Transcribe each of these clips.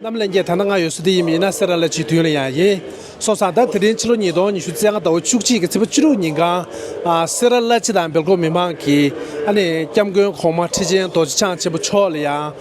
རྣམས་ལན་བརྒྱད་ཐ་ན་ང་ཡོད་སྲོལ་དེ་ཡིན་མིན་ཡིན་ན་སེ་ར་ལ་ཆིག་དུས་ལ་ཡང་ཡིན། སོ་སང་ཟླ་དེ་རིང་ཕྱི་ལོ་ཉིས་སྟོང་ཉི་ཤུ་ཚེས་ལྔ་ཟླ་བ་བཅུ་གཅིག་གི་ཚེས་པ་བཅུ་དྲུག་ཉིན་གང། སེ་ར་བླ་སྤྱི་དང་སྦེལ་ཀོབ་མི་མང་གིས། ཨ་ནི་སྐྱབས་མགོན་གོང་མ་ཁྲི་ཆེན་རྡོ་རྗེ་འཆང་ཆེན་པོ་མཆོག་ལ་ཡང།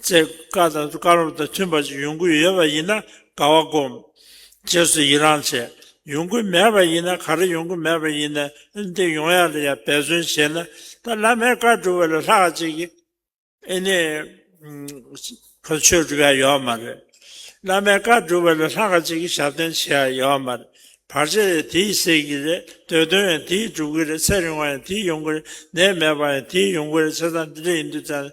ཚེ་བཀའ་དང་བཀའ་སློབ་དང་མཐུན་པ་ཅིག་ཡོང་གི་ཡོད་པ་ཡིན་ན་དགའ་བ་སྒོམ། རྗེས་སུ་ཡི་རང་བྱས། ཡོང་གི་མེད་པ་ཡིན་ན་ག་རེ་ཡོང་གི་མེད་པ་ཡིན་ནའི་འདི་ཡོང་ཡ་ལ་ཡ་འབད་བརྩོན་བྱས་ན་ད་བླ་མའི་བཀའ་བསྒྲུབ་བ་ལས་ལྷག་ཅིག་གི། ཨེ་ནས། ཁོ་ཆོས་བསྒྲུབ་ཡ་ཡོད་མ་རེད། བླ་མའི་བཀའ་བསྒྲུབ་བ་ལས་ལྷག་ཅིག་གི་ཞབས་བརྟན་བྱས་ཡ་ཡོད་མ་རེད། བར་ཆད་ཡང་དེས་སེལ་གི་རེད་འདོད་དོན་ཡང་དེས་བསྒྲུབ་གི་རེད་ཚེ་རིང་བ་ཡང་དེས་ཡོང་གི་རེད་ནད་མེད་པ་ཡང་དེས་ཡོང་གི་རེད་ཚེ་ཐང་འདི་འདྲ་ཡིན་དུས་ཙང།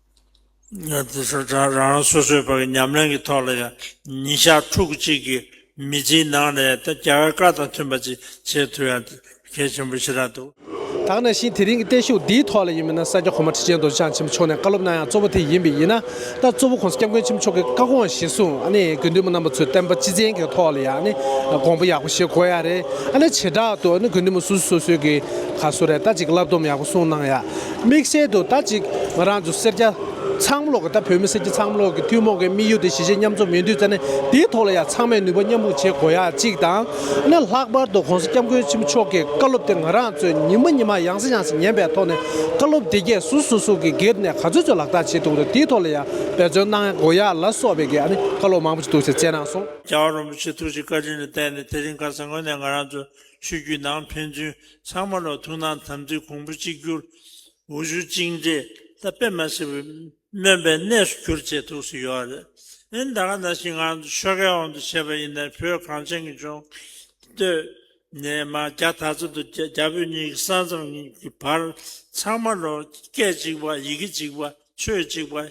དེ་ཚོ་རང་རང་སོ་སོའི་བར་གྱི་ཉམས་ལེན་གྱི་ཐོག་ལ་ཡང་ཉིན་ཞག་ཕྲུག་གུ་གཅིག་གི་མི་ཚེའི་ནང་ནས་ད་རྒྱ་བའི་བཀའ་དང་མཐུན་པ་ཅིག་བྱེད་ཐུབ་ཡང་གལ་ཆེན་པོ་ཞེ་དྲག་འདུག། ད་ནང་བཞིན་དེ་རིང་གི་བརྟན་བཞུགས་འདིའི་ཐོག་ལ་ཡིན་མིན་ན་ས་སྐྱ་གོང་མ་ཁྲི་ཆེན་རྡོ་རྗེ་འཆང་ཆེན་པོ་མཆོག་ནས་བཀའ་སློབ་གནང་ཡང་གཙོ་བོ་དེ་ཡིན་པས་ཡིན་ན་ད་གཙོ་བོ་ཁོང་སྐྱབས་མགོན་ཆེན་པོ་མཆོག་གི་བཀའ་དགོངས་གཞི་བཟུང་ཨ་ནི་དགེ་འདུན་པ་རྣམ་པ་ཚོས་བསྟན་པ་སྤྱི་བཙན་གྱི་ཐོག་ལ་ཡང་ཨ་ནི་དགོངས་པ་ཡག་པོ་བཞེས་དགོས་ཡ་རེད་ཨ་ནི་བྱེ་བྲག་ཏུ་ཨ་ནི་དགེ་འདུན་པ་སོ་སོ་སོ་སོའི་གི་ག་སོ་རེ་ད་ཅིག་བསླབ་སྡོམ་ཡག་པོ་གསུངས་གནང་ཡ། དམིགས་བསལ་དུ་ད་ཅིག་ང་རང་ཚོ་སེར་སྐྱ་ཚང་མོ་ལོག་གི་ད་བོད་མི་སེར་སྐྱ་ཚང་མོ་ལོག་གི་ཐུན་མོང་གི་དམིགས་ཡུལ་དེ་གཞིས་བྱེས་མཉམ་འཛོམས་ཡོད་དུས་རྩ་གནད་དེའི་ཐོག་ལ་ཡང་ཚང་མས་ནུས་པ་མཉམ་སྤུངས་བྱེད་དགོས་ཡ་གཅིག་དང། ན་ལྷག་པར་དུ་གོང་ས་སྐྱབས་མགོན་ཆེན་པོ་མཆོག་གི་བཀའ་སློབ་དེ་ང་རང་ཚོས་ཉིན་མ་ཉིན་མ་ཡང་སེ་ཡང་སེ་ཉན་པའི་ཐོག་ནས་བཀའ་སློབ་དེ་རྒྱའི་སུ་སུ་སུ་གི་སྒེར་ནས་ག་ཚོད་ཚོད་ལག་བསྟར་བྱེད་འདུག་རེད་དེའི་ཐོག་ལ་ཡང་འབད་བརྩོན་གནང་དགོས་ཡ་ལ་སོགས་པའི་གི་ཨ་ནི་བཀའ་སློབ་མང་པོ་ཞིག་འདུག་ཟེར་བཅས་གནང་སོང། རྒྱ་བ་རིན་པོ་ཆེ་ཐུགས་རྗེ་བཀའ་དྲིན་ལ་བརྟེན་ནས་དེ་རིང་ག་ས་ངོས་ནས་ང་རང་ཚོས་ཆོས་བརྒྱུད་ནང་ཕན་ཚུན་ཚང་མ་ལ་ཐུགས་སྣང་དམ་ཚིག་གོང་བུ་གཅིག་གྱུར། འོ་ཆུ་གཅིག་འདྲེས་ལྟ་དཔེ་མ་སེར་བུ་སྨོན་པའི་གནས་སུ་གྱུར་ཅེས་ཐུགས་སུ་ཡོད་རེད། ཨིན་ད་ག་ན་ཞིག་ང་ཚོ་ཆོལ་ཁའི་འོག་ཏུ་བྱས་པ་ཡིན་ནའི་བོད་གངས་ཅན་གྱི་ལྗོངས། སྟོད་ནས་མ་རྒྱ་དར་རྩེ་དུ་རྒྱ་བོད་གཉིས་ཀྱི་ས་མཚམས་གཉིས་ཀྱི་བར་ཚང་མ་ལ་སྐད་གཅིག་པ་ཡི་གེ་གཅིག་པ་ཆོས་གཅིག་པ།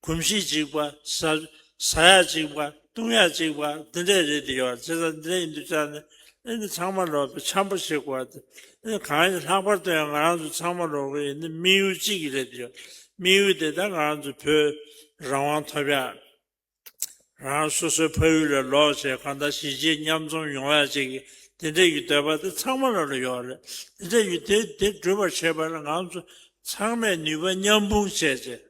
གོམས་གཤིས་གཅིག་པ། ཟ་ཡག་གཅིག་པ། བཏུང་ཡག་གཅིག་པ་འདི་འདྲས་རེད་འདི་ཡོད་ཅེས་ཟ་འདི་འདྲས་ཡིན་འདུག་ཅག་ནི་ཨེ་འདི་ཚང་མ་ལོག་པའི་ཆམ་པོ་ཞིག་གོ་ཨེ་འདི་ཨེ་གང་ཡིན་ལྷག་པར་དུ་ཡང་ང་རང་ཚོ་ཚང་མ་ལོག་གི་ཡིན་འདི་དམིགས་ཡུལ་གཅིག་གི་རེད་འདི་ཡོད་དམིགས་ཡུལ་དེ་ད་ང་རང་ཚོའི་བོད་རང་དབང་ཐོབ་ཡག་རང་རང་སོ་སོའི་ཕ་ཡུལ་ལ་ལོག་ཅེས་གང་ལྟར་གཞིས་བྱེས་མཉམ་འཛོམས་ཡོང་ཡག་ཅིག་གི་འདི་འདྲས་ཡུལ་འདོད་པ་དེ་ཚང་མ་ལ་ལ་ཡོད་རེད་འདི་འདྲས་ཡུལ་དེ་འདི་འགྲུབ་པར་བྱེད་པ་ལ་ང་ཚོ་ཚང་མས་ནུས་པ་མཉམ་སྤུངས་བྱས་རྗེས།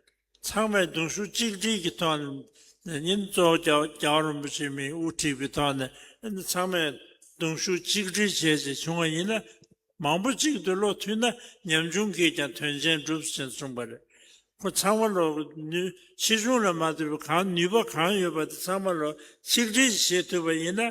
ཚང་མས་གདུང་ཤུགས་གཅིག་སྒྲིལ་གྱི་ཐོག་ནས་ཉིན་གཙོ་བོ་རྒྱ་བ་རིན་པོ་ཆེ་མི་དབུ་ཁྲིད་པའི་ཐོག་ནས་ཚང་མས་གདུང་ཤུགས་གཅིག་སྒྲིལ་བྱས་རྗེས་བྱུང་བ་ཡིན་ན་མང་པོ་གཅིག་ཏུ་བློ་མཐུན་ན་ཉམ་ཆུང་གིས་ཀྱང་དོན་ཆེན་སྒྲུབ་ཟིན་གསུངས་པ་རེད། ཁོ་ཚང་མ་ལོ་ཕྱིས་གཞུང་ལ་མ་ལྟོས་པར་གང་ནུས་པ་གང་ཡོད་པ་དེ་ཚང་མ་ལོ་གཅིག་སྒྲིལ་བྱེད་ཐུབ་པ་ཡིན་ན།